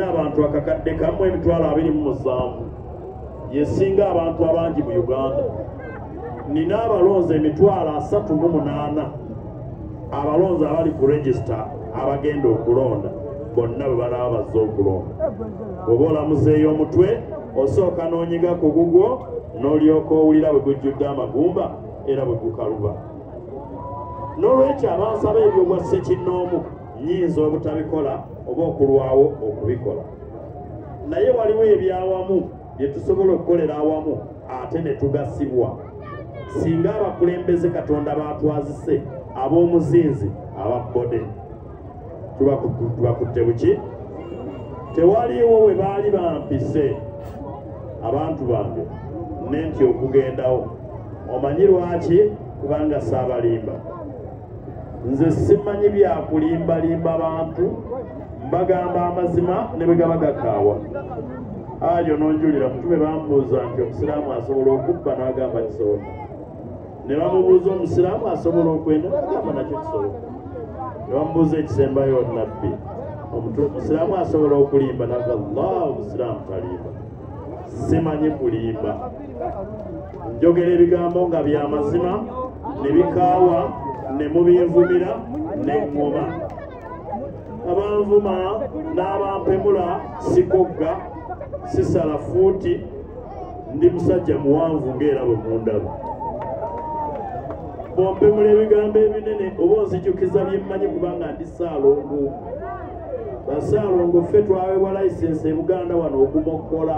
abantu akakadde kamu emitwalo abiri mu musanvu yesinga abantu abangi mu uganda nina abalonzi emitwalo asatu mu munaana abalonzi abali ku regisita abagenda okulonda bonna bwe balaba bazze okulonda oba olamuzeeyo omutwe osooka n'onyiga ku gugwo n'olyoka owulira bwe gujjudde amagumba era bwe gukaluba n'olwekyo abansaba ebyobwa ssekinnoomu nyinza obutabikola oba okulwawo okubikola naye waliwo ebyawamu bye tusobola okukolera awamu ate ne tugasibwa singa abakulembeze katonda batwazise ab'omuzinzi ababbode tubakutte buki tewaliwo we baali bampise abantu bange nenti okugendawo omanyi lwaki kubanga saabalimba nze simanyi byakulimbalimba bantu mbagamba amazima ne bwe gaba gakaawa ayo nonjulira mutume bambuuza nti omusiraamu asobola okubba n'agamba kisobola ne bamubuuza omusiraamu asobola okwenda n'agamba nakyo kisobola ne bamubuuza ekisembayo nabbi omusiraamu asobola okulimba naga llah omusiraamu talimba simanyi kulimba njogera ebigambo nga bya mazima ne bikaawa ne mubinvumira ne ŋŋoma abanvuma n'abampemula sikogga sisala fuuti ndi musajja muwanvu ng'era bwe mundaba bompemula ebigambo ebinene oba onzijukiza byemmanyi kubanga ndi saalongo basaalongo ffe twaweebwa layisensi e buganda wano okumokkola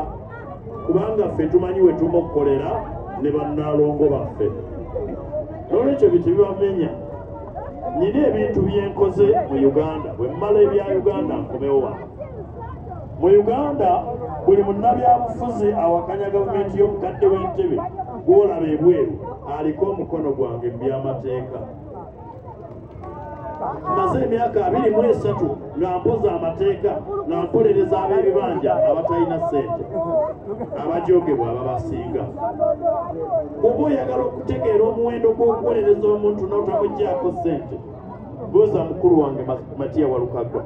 kubanga ffe tumanyi we tumokkolera ne bannaalongo baffe n'olwekyo bintu bibamenya nyina ebintu byenkoze mu uganda bwe mmala ebya uganda nkomewo wano mu uganda buli munnabyabufuzi awakanya gavumenti y'omukadde w'entebe gwolaba ebweru aliko omukono gwange mu byamateeka maze emyaka abiri mu esatu nga mpoza amateeka nga mpolereza ab'ebibanja abatalina ssente abajoogebwa ababasinga oba oyagala okutegeera omuwendo gw'okuwolereza omuntu n'otamuggyako ssente buuza mukulu wange matiya walukagwa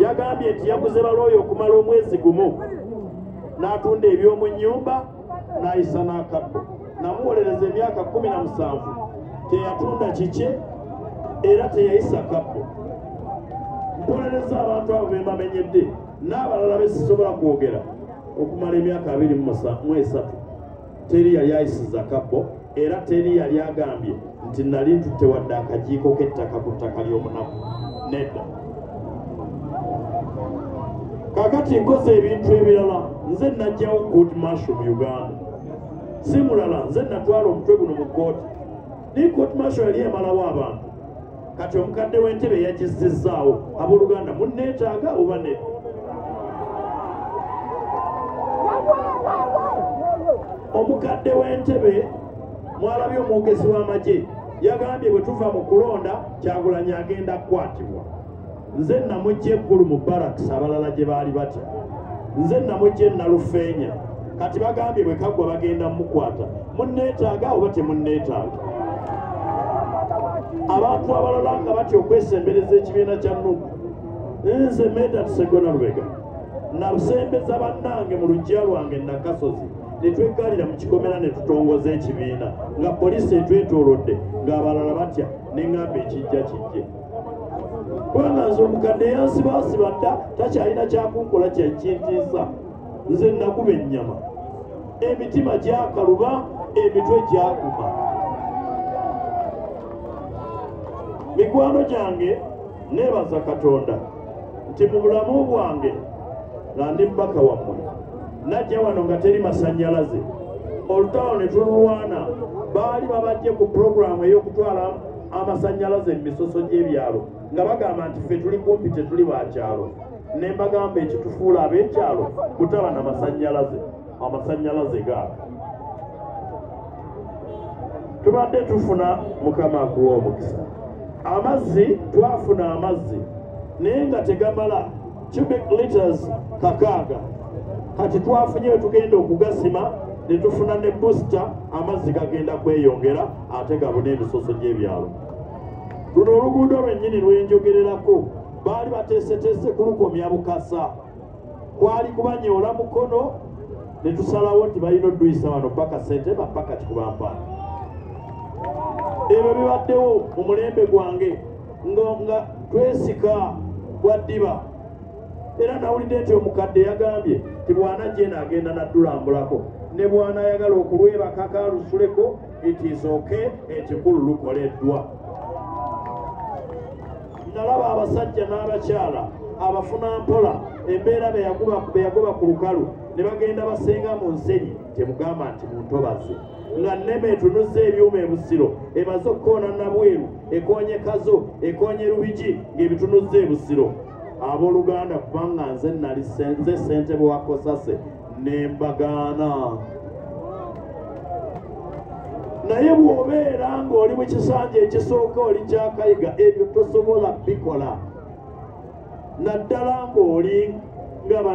yagambye nti yaguze balooyo okumala omwezi gumu n'atunda eby'omu nnyumba n'ayisa n'akabbo namuwolereza emyaka kumi na musanvu teyatunda kikye era teyayisa kabbo mpolereza abantu abo bembamenyedde n'abalala besisobola kwogera okumala emyaka abiri mu esatu teri yali ayisiza kabbo era teri yali agambye nti nali ntutte wadde akajiiko k'ettaka ku ttaka ly'omunaku nedda kakati nkoze ebintu ebirala nze najjawo good marshal mu uganda si mulala nze natwala omutwe guno mu kooti naye kooti marshal yali emalawo abantu kati omukadde w'entebe yagissizzaawo abooluganda munneetaaga oba ne omukadde w'entebe mwalabye omwogezi w'amagye yagambye bwe tuva mu kulonda kyagulanyi agenda kukwatibwa nze namujja eggulu mu baraks abalala gye baali batya nze namujja enalufeenya kati bagambye bwe kaggwa bagenda mukwata munneetaaga oba temunneetaaga abantu abalala nga batya okwesembereza ekibiina kya nugu nze meda tusegona lubega nasembeza bannange mu lujja lwange nakasozi netweggalira mu kikomera ne tutongoza ekibiina nga poliisi etwetoolodde ng'abalala batya ne ŋŋamba ekijja kijje kubanga nze omukadde yansibaasiba dda takyalina kyakunkola kyekintiisa nze nakuba ennyama emitima gyakaluba emitwe gyakuba mikwano gyange neebaza katonda nti mu bulamu bwange nga ndi mubaka wammwe najja wano nga teri masannyalaze olutalo ne tululwana baali babajje ku pulogulaamu ey'okutwala amasanyalaze mu misoso gy'ebyalo nga bagamba nti ffe tuli kumpi tetuli bakyalo ne mbagamba ekitufuula ab'ekyalo kutaba na masanyalaze amasanyalaze gaabo tubadde tufuna mukama akuwa omukisa amazzi twafuna amazzi naye nga tegamala cubic liters kakaaga kati twafunye wetugenda okugasima ne tufuna ne booster amazzi gagenda kweyongera ate gabuna emisoso gy'ebyalo luno oluguudo lwennyini lwenjogererako baali bateeseteese kulukomya bukasa kwali kubanyoola mukono ne tusalawo nti balina oduyisa wano paka sente bapaka kikubampaana ebyo bibaddewo mu mulembe gwange nga twesika bwa ddiba era nawulidde nti omukadde yagambye ti bwana jena agenda naddulambulako ne bwana ayagala okulwebakaka alusuleko it is okay ekikulu lukoleddwa nalaba abasajja n'abakyala abafuna mpola embeera beyagoba ku lukalu ne bagenda basenga mu nsenyi temugamba nti muntobazi nga nneme etunuzza ebyuma ebusiro emaze okukoona nabweru ekonye kazo ekonye lubigi ng'ebitunuzza ebusiro abooluganda kubanga nze nali nze ssentebe wa kosase nembagaana naye bw'obeera ng'oli mu kisanja ekisooka oli kyakayiga ebyo tosobola bikola naddala ng'oli nga